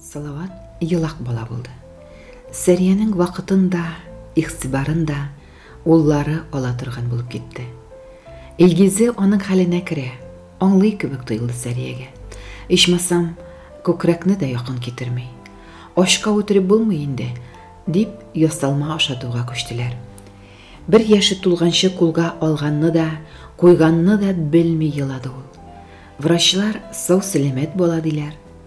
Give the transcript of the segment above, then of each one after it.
Салават елак бала булды. Сәриянең вакытын да, игътибарын да уллары ала торган булып китте. Илгизе аның хәленә керә, аңлый кебек тоелды Сәриягә. Ичмасам, күкрәкне дә якын китерми. Ашка үтереп булмый инде, дип ясалма ашатуга күчтеләр. Бер яше тулганчы кулга алганны да, куйганны да белми елады ул. Врачлар сау-сәламәт бала диләр.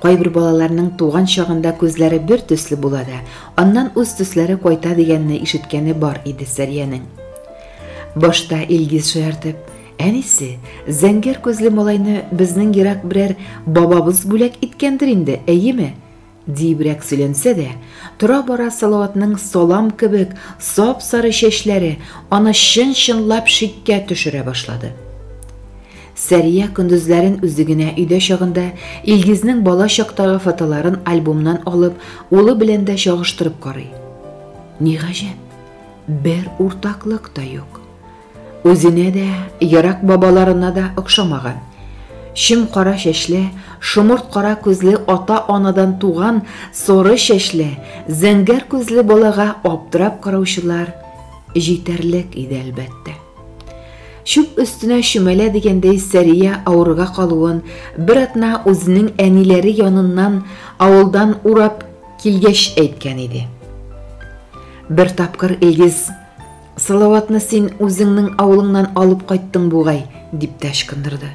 Кайбер балаларның туган чагында күзләре бер төсле була да, аннан үз төсләре кайта дигәнне ишеткәне бар иде Сәриянең. Башта Илгиз шаяртып, Әнисе, зәңгәр күзле малайны безнең ерак берәр бабабыз бүләк иткәндер инде, әйеме? Диебрәк сөйләнсә дә, тора-бара Салаватның салам кебек сап-сары чәчләре аны чын-чынлап шиккә төшерә башлады. Сәрия көндезләрен үзе генә өйдә чагында Илгизнең бала чактагы фотоларын альбомнан алып, улы белән дә чагыштырып карый. Ни гаҗәп, бер уртаклык та юк. Үзенә дә, ерак бабаларына да охшамаган. Чем кара чәчле, шомырт кара күзле ата-анадан туган соры чәчле, зәңгәр күзле балага аптырап караучылар җитәрлек иде, әлбәттә. Чүп өстенә чүмәлә дигәндәй Сәрия авырга калуын бер атна үзенең әниләре яныннан авылдан урап килгәч әйткән иде. Бер тапкыр Илгиз, Салаватны син үзеңнең авылыңнан алып кайттың бугай, дип тә ычкындырды.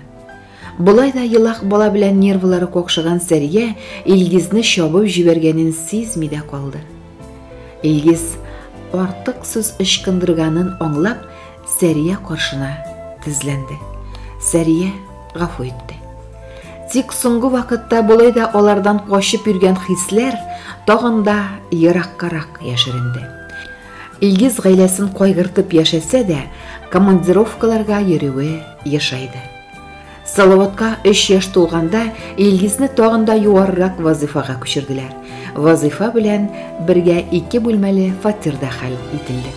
Болай да елак бала белән нервылары какшыган Сәрия Илгизне чабып җибәргәнен сизми дә калды. Илгиз артык сүз ычкындырганын аңлап, Сәрия каршына тезләнде. Сәрия гафу итте. Тик соңгы вакытта болай да алардан качып йөргән хисләр тагын да ераккарак яшеренде. Илгиз гаиләсен кайгыртып яшәсә дә, командировкаларга йөрүе ешайды. Салаватка 3 яшь тулганда Илгизне тагын да юаррак вазыйфага күчерделәр. Вазыйфа белән бергә ике бүлмәле фатирда хәл ителде.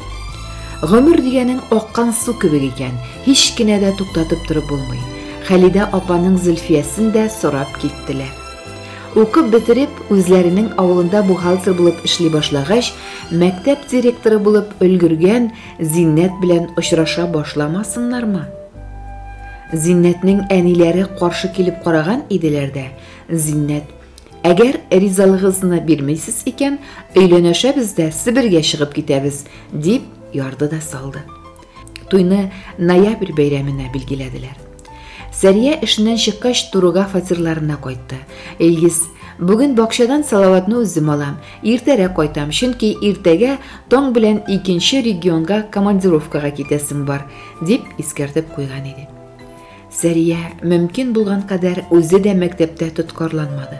Гомер дигәнең аккан су кебек икән, һич кенә дә туктатып торып булмый. Хәлидә апаның Зөлфиясен дә сорап киттеләр. Укып бетереп, үзләренең авылында бухгалтер булып эшли башлагач, мәктәп директоры булып өлгергән Зиннәт белән очраша башламасыннармы? Зиннәтнең әниләре каршы килеп караган иделәр дә, Зиннәт, әгәр ризалыгызны бирмисез икән, өйләнәшәбез дә Себергә чыгып китәбез, дип ярды да салды. Туйны ноябрь бәйрәменә билгеләделәр. Сәрия эшеннән чыккач Туруга фатирларына кайтты. Илгиз, бүген бакчадан Салаватны үзем алам, иртәрәк кайтам, чөнки иртәгә таң белән икенче регионга командировкага китәсем бар, дип искәртеп куйган иде. Сәрия мөмкин булган кадәр үзе дә мәктәптә тоткарланмады.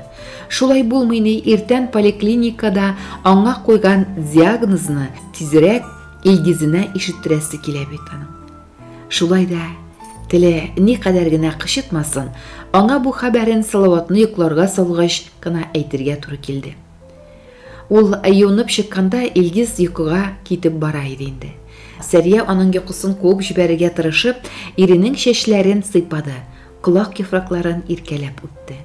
Шулай булмый ни, иртән поликлиникада аңа куйган диагнозны тизрәк Илгизенә ишеттерәсе килә бит аның. Шулай да теле никадәр генә кычытмасын, аңа бу хәбәрен Салаватны йокларга салгач кына әйтергә туры килде. Ул юынып чыкканда Илгиз йокыга китеп бара иде инде. Сәрия аның йокысын куып җибәрергә тырышып, иренең чәчләрен сыйпады, колак яфракларын иркәләп үтте.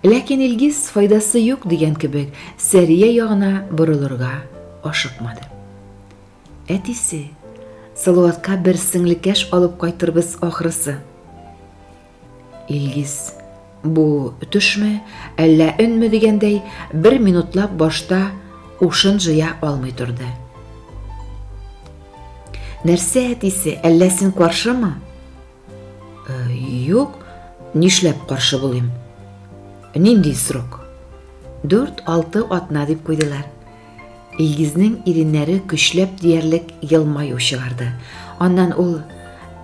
Ләкин Илгиз файдасы юк дигән кебек Сәрия ягына борылырга ашыкмады. Әтисе, Салаватка бер сеңлекәш алып кайтырбыз ахрысы. Илгиз, бу төшме, әллә өнме дигәндәй, бер минутлап башта ушын җыя алмый торды. Нәрсә әтисе, әллә син каршымы? Юк, нишләп каршы булыйм? Нинди срок? Дүрт-алты атна дип куйдылар. Илгизнең иреннәре көчләп диярлек елмаю чыгарды. Аннан ул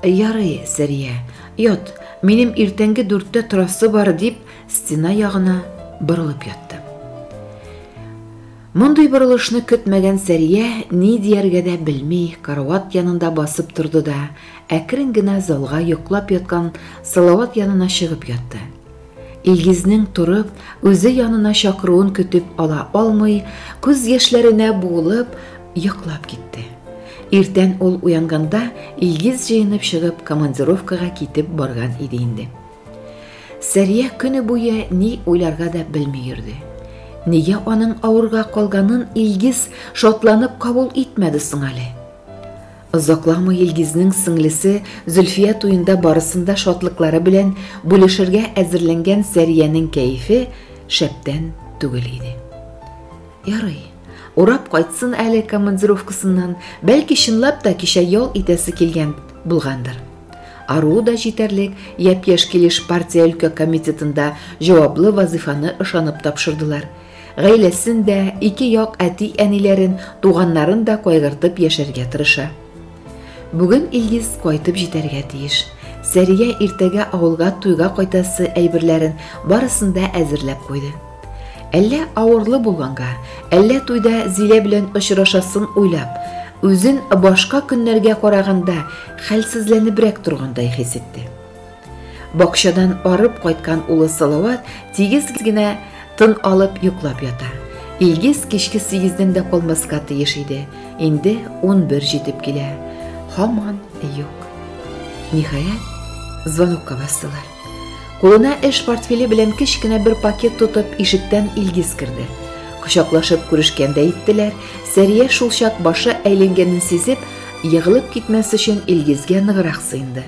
Ярый, Сәрия, ят, минем иртәнге дүрттә торасы бар, дип, стена ягына борылып ятты. Мондый борылышны көтмәгән Сәрия ни дияргә дә белми карават янында басып торды да, әкрен генә залга йоклап яткан Салават янына чыгып ятты. Илгизнең торып, үзе янына чакыруын көтеп ала алмый, күз яшьләренә буылып, йоклап китте. Иртән ул уянганда, Илгиз җыенып чыгып командировкага китеп барган иде инде. Сәрия көне буе ни уйларга да белми йөрде. Нигә аның авырга калганын Илгиз шатланып кабул итмәде соң әле? Озакламый Илгизнең сеңлесе Зөлфия туенда барысында шатлыклары белән бүлешергә әзерләнгән Сәриянең кәефе шәптән түгел иде. Ярый, Урап кайтсын әле командировкасыннан, бәлки чынлап та кичә ял итәсе килгән булгандыр. Ару да җитәрлек, япь-яшь килеш партия өлкә комитетында җаваплы вазифаны ышанып тапшырдылар. Гаиләсен дә, ике як әти-әниләрен, туганнарын да кайгыртып яшәргә тырыша. Бүген Илгиз кайтып җитәргә тиеш. Сәрия иртәгә авылга туйга кайтасы әйберләрен барысын да әзерләп куйды. Әллә авырлы булганга, әллә туйда Зилә белән очрашасын уйлап, үзен башка көннәргә караганда хәлсезләнебрәк торгандай хис итте. Бакчадан арып кайткан улы Салават тигез генә тын алып йоклап ята. Илгиз кичке сигездән дә калмаска тиеш иде. Инде унбер җитеп килә. Һаман юк. Ниһаять, звонокка бастылар. Кулына эш портфеле белән кечкенә бер пакет тотып, ишектән Илгиз керде. Кочаклашып күрешкәндә иттеләр. Сәрия шулчак башы әйләнгәнен сизеп, егылып китмәс өчен Илгизгә ныграк сыенды.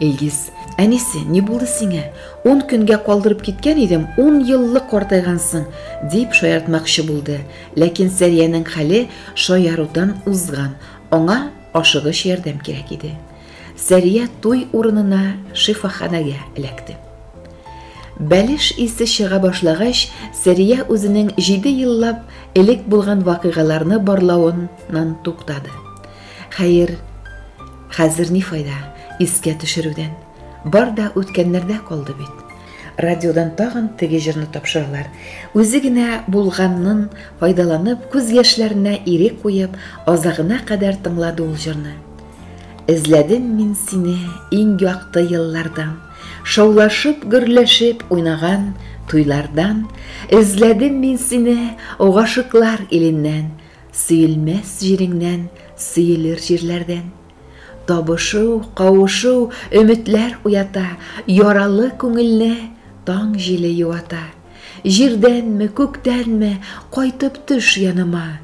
Илгиз. Әнисе, ни булды сиңә? Ун көнгә калдырып киткән идем, ун еллык картайгансың, дип шаяртмакчы булды. Ләкин Сәриянең хәле шаярудан узган, аңа ашыгыч ярдәм кирәк иде. Сәрия туй урынына шифаханәгә эләкте. Бәлеш исе чыга башлагач, Сәрия үзенең җиде еллап элек булган вакыйгаларны барлавыннан туктады. Хәер, хәзер ни файда искә төшерүдән? Бар да үткәннәрдә калды бит. Радиодан тагын теге җырны тапшыралар. Үзе генә булганнын файдаланып, күз яшьләренә ирек куеп, азагына кадәр тыңлады ул җырны. Эзләдем мин сине иң якты еллардан, шаулашып, гөрләшеп уйнаган туйлардан, эзләдем мин сине гашыклар иленнән, Сөелмәс җиреңнән, сөелер җирләрдән. Табышу, кавышу, өметләр уята, яралы күңелне таң җиле юата. Җирдәнме, күктәнме, кайтып төш яныма.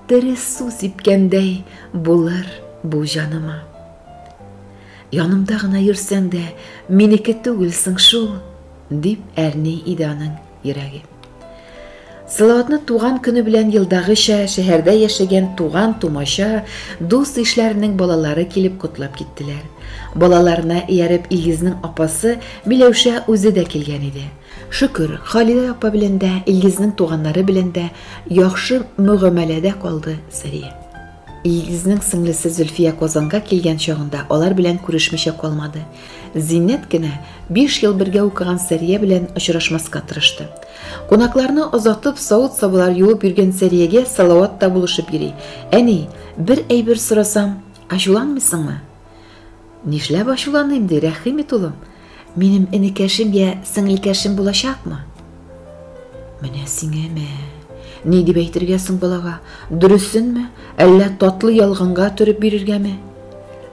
Тере су сипкәндәй булыр бу җаныма. Янымда гына йөрсәң дә, минеке түгелсең шул, дип әрни иде аның. йөрәге. Салаватны туган көне белән елдагыча шәһәрдә яшәгән туган тумача, дус ишләренең балалары килеп котлап киттеләр. Балаларына ияреп Илгизнең апасы Миләүшә үзе дә килгән иде. Шөкер, Халилә апа белән дә, Илгизнең туганнары белән дә яхшы мөгамәләдә калды Сәрия. Илгизнең сеңлесе Зөлфия Казанга килгән чагында алар белән күрешмичә калмады. Зиннәт кенә биш ел бергә укыган Сәрия белән очрашмаска тырышты. Кунакларны озатып, савыт-сабалар юып йөргән Сәриягә Салават та булышып йөри. Әни, бер әйбер сорасам, ачуланмыйсыңмы? Нишләп ачуланыйм, ди, рәхим ит, улым. Минем энекәшем я сеңелкәшем булачакмы? Менә сиңә мә. Ни дип әйтергә соң балага? Дөресенме, әллә татлы ялганга төреп бирергәме?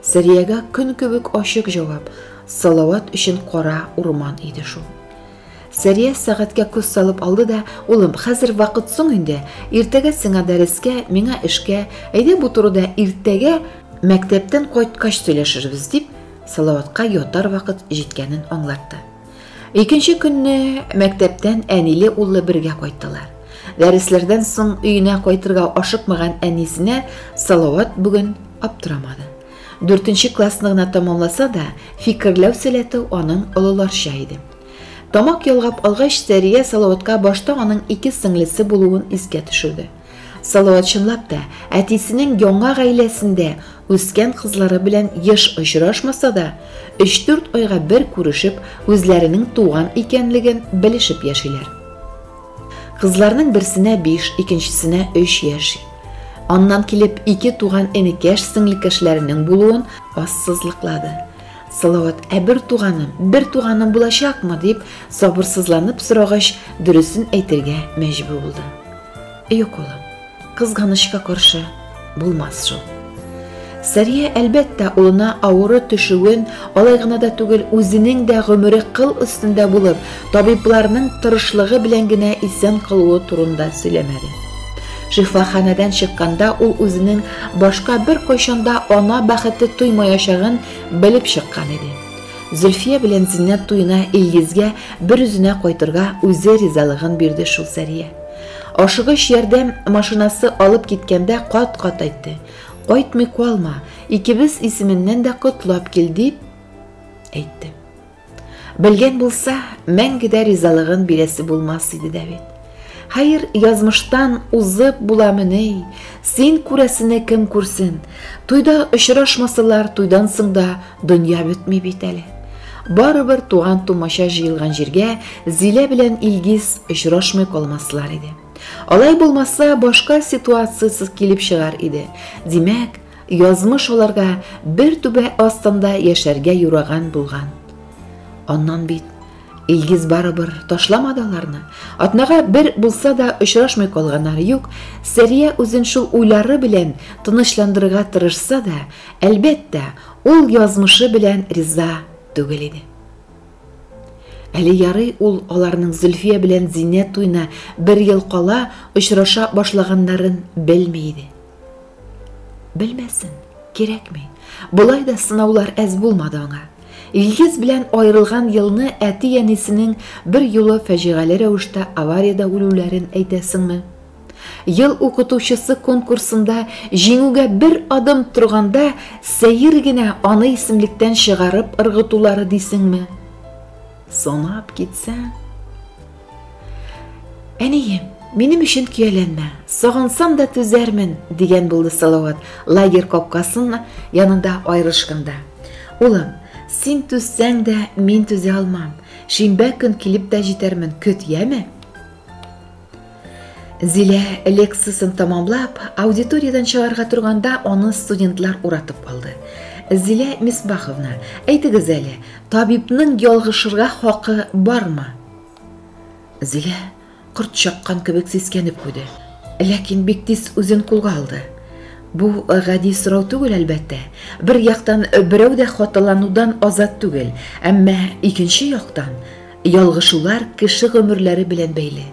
Сәриягә көн кебек ачык җавап, Салават өчен кара урман иде шул. Сәрия сәгатькә күз салып алды да, Улым, хәзер вакыт соң инде, иртәгә сиңа дәрескә, миңа эшкә, әйдә бу турыда иртәгә мәктәптән кайткач сөйләшербез, дип, Салаватка ятар вакыт җиткәнен аңлатты. Икенче көнне мәктәптән әниле-уллы бергә кайттылар. Дәресләрдән соң өенә кайтырга ашыкмаган әнисенә Салават бүген аптырамады. Дүртенче классны гына тамамласа да, фикерләү сәләте аның олыларча иде. Тамак ялгап алгач, Сәрия Салаватка башта аның ике сеңлесе булуын искә төшерде. Салават чынлап та, әтисенең яңа гаиләсендә үскән кызлары белән еш очрашмаса да, 3-4 айга бер күрешеп, үзләренең туган икәнлеген белешеп яшиләр. Кызларның берсенә биш, икенчесенә өч яшь. Аннан килеп ике туган энекәш сеңлекәшләренең булуын ассызлыклады. Салават, ә бер туганым, бер туганым булачакмы, дип сабырсызланып сорагач, дөресен әйтергә мәҗбүр булды. Юк, улым. Кызганычка каршы, булмас шул. Сәрия, әлбәттә, улына авыры төшүен, алай гына да түгел, үзенең дә гомере кыл өстендә булып, табибларның тырышлыгы белән генә исән калуы турында сөйләмәде. Шифаханәдән чыкканда ул үзенең башка бер кайчанда ана бәхете тоймаячагын белеп чыккан иде. Зөлфия белән Зиннәт туена Илгизгә бер үзенә кайтырга үзе ризалыгын бирде шул Сәрия. Ашыгыч ярдәм машинасы алып киткәндә кат-кат әйтте. Кайтмый калма, икебез исеменнән дә котлап кил дип әйтте. Белгән булса, мәңге дә ризалыгын бирәсе булмас иде дә бит. Хәер, язмыштан узып буламы ни? Син күрәсене кем күрсен? Туйда очрашмасалар, туйдан соң да Дөнья бетми бит әле. Барыбер туган тумача җыелган җиргә Зилә белән Илгиз очрашмый калмаслар иде. Алай булмаса, башка ситуациясез килеп чыгар иде. Димәк, язмыш аларга бер түбә астында яшәргә юраган булган. Аннан бит Илгиз барыбер ташламады аларны. Атнага бер булса да очрашмый калганнары юк. Сәрия үзен шул уйлары белән тынычландырырга тырышса да, әлбәттә, ул язмышы белән риза түгел иде. Әле ярый ул аларның Зөлфия белән Зиннәт туена бер ел кала очраша башлаганнарын белми иде. Белмәсен, кирәкми. Болай да сынаулар әз булмады аңа. Илгиз белән аерылган елны әти-әнисенең бер юлы фәҗигале рәвештә авариядә үлүләрен әйтәсеңме? Ел укытучысы конкурсында җиңүгә бер адым торганда сәер генә аны исемлектән чыгарып ыргытулары дисеңме? Санап китсәң, Әнием, минем өчен көяләнмә, сагынсам да түзәрмен, дигән булды Салават, лагерь капкасын янында аерылышканда. Улым, син түзсәң дә, мин түзә алмам. Шимбә көн килеп тә җитәрмен, көт, яме? Зилә лекциясен тамамлап, аудиториядан чыгарга торганда аны студентлар уратып алды. Зилә Мисбаховна, әйтегез әле, табибның ялгышырга хакы бармы? Зилә корт чаккан кебек сискәнеп куйды. Ләкин бик тиз үзен кулга алды. Бу гади сорау түгел, әлбәттә. Бер яктан берәү дә хаталанудан азат түгел, әмма икенче яктан ялгышулар кеше гомерләре белән бәйле.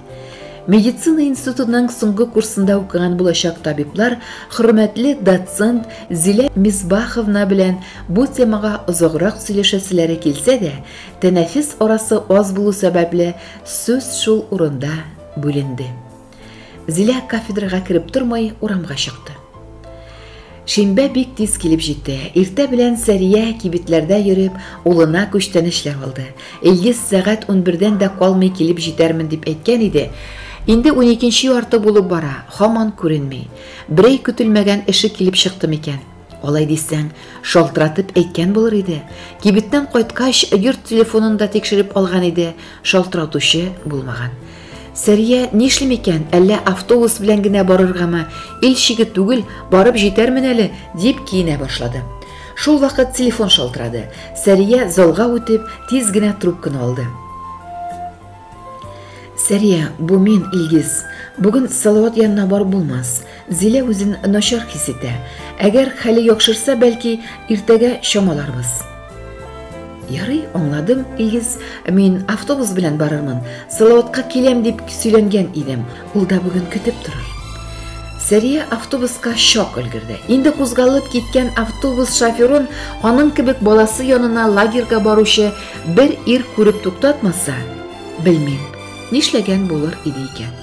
Медицина институтының соңгы курсында укыган булачак табиблар хөрмәтле доцент Зилә Мизбаховна белән бу темага озаграк сөйләшәселәре килсә дә, тәнәфес арасы аз булу сәбәпле сүз шул урында бүленде. Зилә кафедрага кереп тормай урамга чыкты. Шимбә бик тиз килеп җитте. Иртә белән Сәрия кибетләрдә йөреп, улына күчтәнәчләр алды. Илгиз сәгать 11-дән дә калмый килеп җитәрмен дип әйткән иде. Инде 12-нче ярты булып бара, хаман күренми. Берәй көтелмәгән эше килеп чыкты микән? Алай дисәң, шалтыратып әйткән булыр иде. Кибеттән кайткач, йорт телефонын да тикшереп алган иде, шалтыратучы булмаган. Сәрия нишлим икән, әллә автобус белән генә барыргамы, ил чиге түгел, барып җитәрмен әле, дип киенә башлады. Шул вакыт телефон шалтырады. Сәрия залга үтеп, тиз генә трубканы алды. Сәрия, бу мин, Илгиз. Бүген Салават янына барып булмас. Зилә үзен начар хис итә. Әгәр хәле яхшырса, бәлки, иртәгә чамаларбыз. Ярый, аңладым, Илгиз. Мин автобус белән барырмын. Салаватка киләм дип сөйләнгән идем. Ул да бүген көтеп торыр. Сәрия автобуска шок өлгерде. Инде кузгалып киткән автобус шоферын аның кебек баласы янына лагерьга баручы Бер ир күреп туктатмаса, белмим, нишләгән булыр иде икән.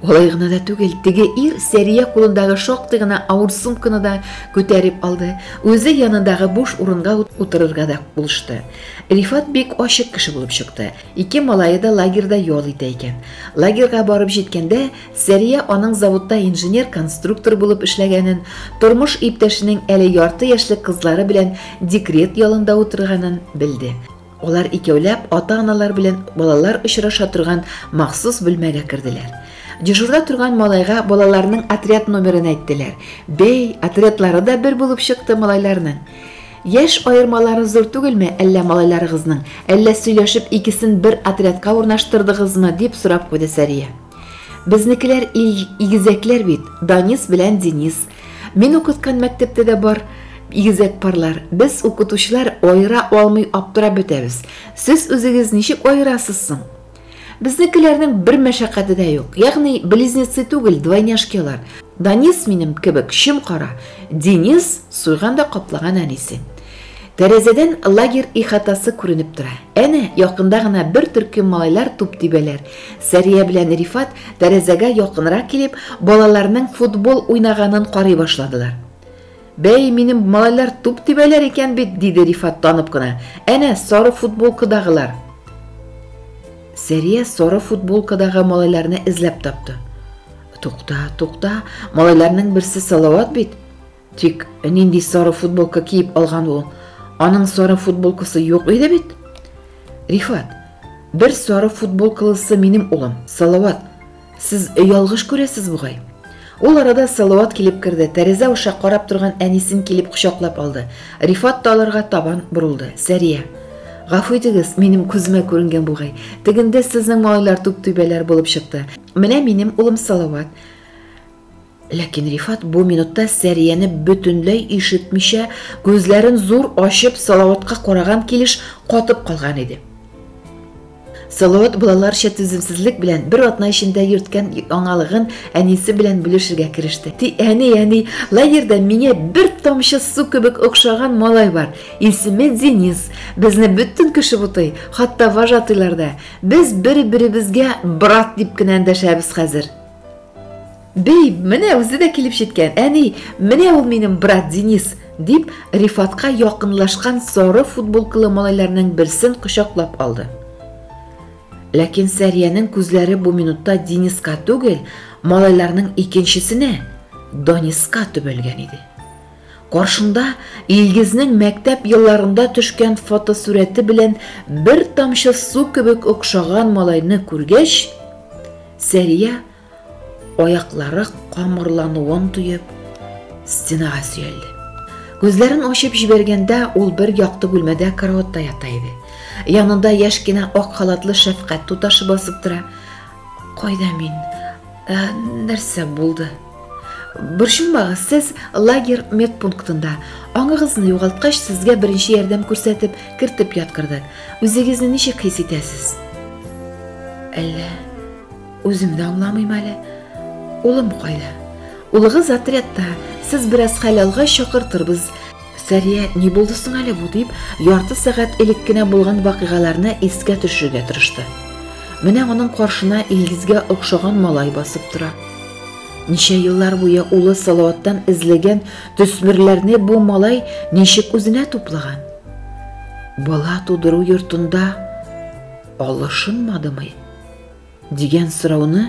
Алай гына да түгел, теге ир Сәрия кулындагы шактый гына авыр сумканы да күтәреп алды, үзе янындагы буш урынга утырырга да булышты. Рифат бик ачык кеше булып чыкты. Ике малае да лагерьда ял итә икән. Лагерьга барып җиткәндә, Сәрия аның заводта инженер-конструктор булып эшләгәнен, тормыш иптәшенең әле ярты яшьлек кызлары белән декрет ялында утырганын белде. Алар икәүләп ата-аналар белән балалар очраша торган махсус бүлмәгә керделәр. Дежурда торган малайга балаларның отряд номерын әйттеләр. Бәй, отрядлары да бер булып чыкты малайларның. Яшь аермалары зур түгелме әллә малайларыгызның? Әллә сөйләшеп икесен бер отрядка урнаштырдыгызмы? дип сорап куйды Сәрия. Безнекеләр ил игезәкләр бит, Данис белән Денис. Мин укыткан мәктәптә дә бар игезәк парлар. Без укытучылар аера алмый аптырап бетәбез. Сез үзегез ничек аерасыз соң? Безнекеләрнең бер мәшәкате дә юк. Ягъни близнецы түгел, двойняшкалар. Данис минем кебек чем кара, Денис суйганда каплаган әнисе. Тәрәзәдән лагерь ихатасы күренеп тора. Әнә, якында гына бер төркем малайлар туп тибәләр. Сәрия белән Рифат, тәрәзәгә якынрак килеп, балаларның футбол уйнаганын карый башладылар. Бәй, минем малайлар туп тибәләр икән бит, диде Рифат танып кына. Әнә, сары футболкадагылар. Сәрия сары футболкадагы малайларны эзләп тапты. Тукта, тукта, малайларның берсе Салават бит. Тик нинди сары футболка киеп алган ул? Аның сары футболкасы юк иде бит. Рифат, бер сары футболкалысы минем улым, Салават. Сез ялгыш күрәсез бугай. Ул арада Салават килеп керде. Тәрәзә аша карап торган әнисен килеп кочаклап алды. Рифат та аларга табан борылды. Сәрия, Гафу итегез, минем күземә күренгән бугай. Тегендә сезнең малайлар түп-түбәләр булып чыкты. Менә минем улым Салават. Ләкин Рифат бу минутта Сәрияне бөтенләй ишетмичә, күзләрен зур ачып Салаватка караган килеш катып калган иде. Салават балаларча түземсезлек белән бер атна эчендә йөрткән яңалыгын әнисе белән бүлешергә кереште. Ти, әни, әни, лагерьда миңа бер тамчы су кебек охшаган малай бар. Исеме Денис. Безне бөтен кеше бутый, хатта вожатыйлар да. Без бер-беребезгә брат дип кенә эндәшәбез хәзер. Бәй, менә үзе дә килеп җиткән. Әни, менә ул минем брат Денис, дип, Рифатка якынлашкан сары футболкалы малайларның берсен кочаклап алды. Ләкин Сәриянең күзләре бу минутта Дениска түгел, малайларның икенчесенә, Дониска төбәлгән иде. Каршында Илгизнең мәктәп елларында төшкән фотосурәте белән бер тамчы су кебек охшаган малайны күргәч, Сәрия, аяклары камырлануын тоеп, стенага сөялде. Күзләрен ачып җибәргәндә, ул бер якты бүлмәдә караватта ята иде. Янында яшь кенә ак халатлы шәфкать туташы басып тора. Кайда мин? Ә, нәрсә булды? Борчылмагыз, сез лагер медпунктында. Аңыгызны югалткач, сезгә беренче ярдәм күрсәтеп, кертеп яткырдык. Үзегезне ничек хис итәсез? Әллә үзем дә аңламыйм әле. Улым кайда? Улыгыз отрядта. Сез бераз хәл алгач чакыртырбыз. Сәрия, ни булды соң әле бу, дип, ярты сәгать элек кенә булган вакыйгаларны искә төшерергә тырышты. Менә аның каршына Илгизгә охшаган малай басып тора. Ничә еллар буе улы Салаваттан эзләгән төсмерләрне бу малай ничек үзенә туплаган? Бала тудыру йортында алышынмадымы? Дигән сорауны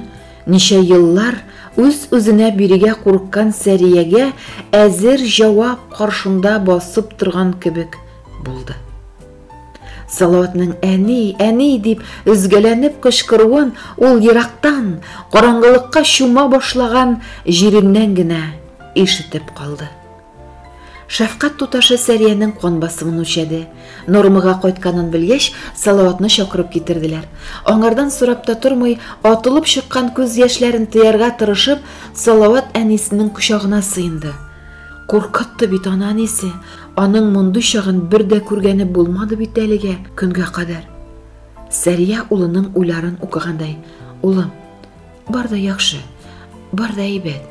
ничә еллар үз-үзенә бирегә курыккан Сәриягә әзер җавап каршында басып торган кебек булды. Салаватның әни, әни дип өзгәләнеп кычкыруын ул ерактан, караңгылыкка чума башлаган җиреннән генә ишетеп калды. Шәфкать туташы Сәриянең кан басымын үлчәде. Нормага кайтканын белгәч, Салаватны чакырып китерделәр. Аңардан сорап та тормый, атылып чыккан күз яшьләрен тыярга тырышып, Салават әнисенең кочагына сыенды. Куркытты бит аны әнисе. Аның мондый чагын бер дә күргәне булмады бит әлегә көнгә кадәр. Сәрия улының уйларын укыгандай, "Улым, Бар да яхшы, бар да әйбәт.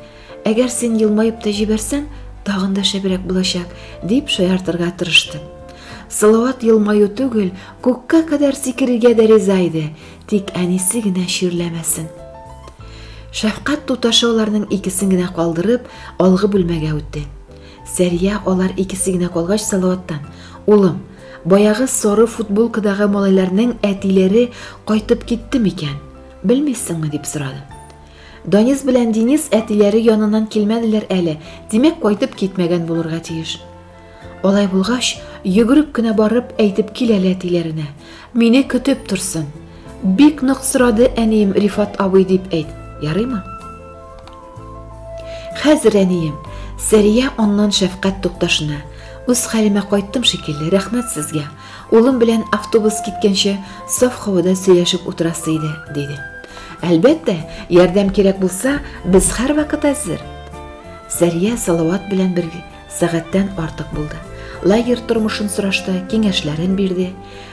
Әгәр син елмаеп та җибәрсәң, тагын да шәбрәк булачак, дип шаяртырга тырышты. Салават елмаю түгел, күккә кадәр сикерергә дә риза иде, тик әнисе генә чирләмәсен. Шәфкать туташы аларның икесен генә калдырып, алгы бүлмәгә үтте. Сәрия алар икесе генә калгач Салаваттан, "Улым, баягы соры футболкадагы малайларның әтиләре кайтып китте микән?" Белмисеңме? дип сорады. Данис белән Денис әтиләре янынан килмәделәр әле, димәк кайтып китмәгән булырга тиеш. Алай булгач, йөгереп кенә барып әйтеп кил әле әтиләренә. Мине көтеп торсын. Бик нык сорады әнием Рифат абый дип әйт. Ярыймы? Хәзер әнием, Сәрия аннан шәфкать тукташына. Үз хәлемә кайттым шикелле, рәхмәт сезгә. Улым белән автобус киткәнче саф һавада сөйләшеп утырасы иде, диде. Әлбәттә, ярдәм кирәк булса, без һәрвакыт әзер. Сәрия Салават белән бер сәгатьтән артык булды. Лагерь тормышын сорашты, киңәшләрен бирде.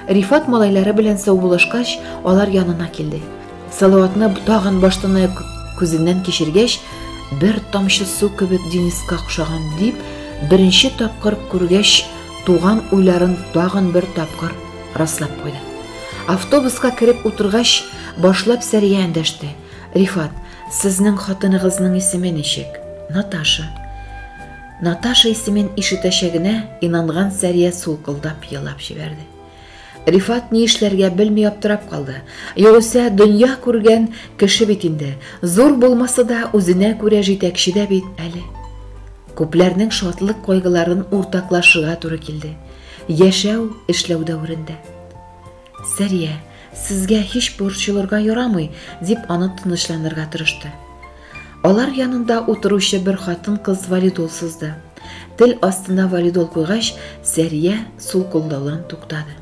Рифат малайлары белән саубуллашкач, алар янына килде. Салаватны тагын баштанаяк күзеннән кичергәч, бер тамчы су кебек Дениска охшаган дип, беренче тапкыр күргәч, туган уйларын тагын бер тапкыр раслап куйды. Автобуска кереп утыргач, башлап Сәрия эндәште. Рифат, сезнең хатыныгызның исеме ничек? Наташа. Наташа исемен ишетәчәгенә инанган Сәрия сулкылдап елап җибәрде. Рифат ни эшләргә белми аптырап калды. Югыйсә, дөнья күргән кеше бит инде. Зур булмаса да, үзенә күрә җитәкче дә бит әле. Күпләрнең шатлык кайгыларын уртаклашырга туры килде. Яшәү, эшләү дәверендә. Сәрия, сезгә һич борчылырга ярамый, дип аны тынычланырга тырышты. Алар янында утыручы бер хатын-кыз валидол сызды. Тел астына валидол куйгач, Сәрия сул кулдаудан туктады.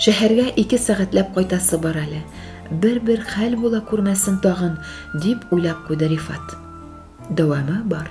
Шәһәргә ике сәгатьләп кайтасы бар әле. Бер-бер хәл була күрмәсен тагын, дип уйлап куйды Рифат. Дәвамы бар.